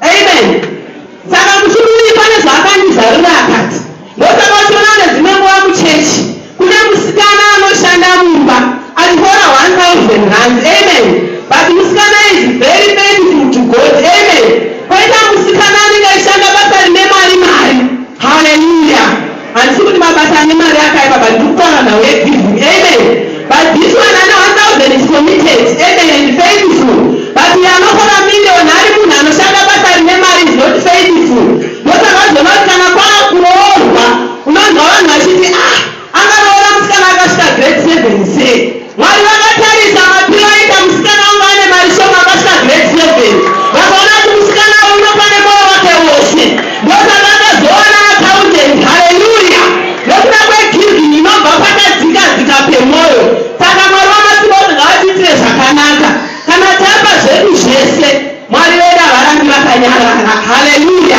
Amen. Saka mutumbi uyu pane zvaakandizarura akati, ndosaka uchiona kune dzimwe nguva muchechi kune musikana anoshanda mumba achihora 1000 rands. Amen. But musikana is very faithful to God. Amen. Koita musikana anenge achishanda basa rine mari mari. Hallelujah. Handisi kuti mabasa ane mari akaipa but ndiri kutaura nhau yegiving. Amen. But this one ane 1000 is committed. Amen and faithful. But uyo anofora million ari munhu anoshanda basa rine mari is not faithful. Ndosaka uchizoona kuti kana kwava kuroorwa unonzwa vanhu vachiti ah akaroora musikana akasvika grade 7 sei. Mwari vakatarisa Mapiro aita musikana wangu ane mari shoma akasvika grade seven. Vakaona kuti musikana uyu unofa nemoyo wake wose. Ndosaka akazowana accountant. Haleluya! Nekuda kwegiving inobva pakadzika dzika pemoyo. Saka Mwari wamasimba ose ngavatiitire zvakanaka. Kana tapa zvedu zvese, Mwari vedu havarambi vakanyarara. Haleluya!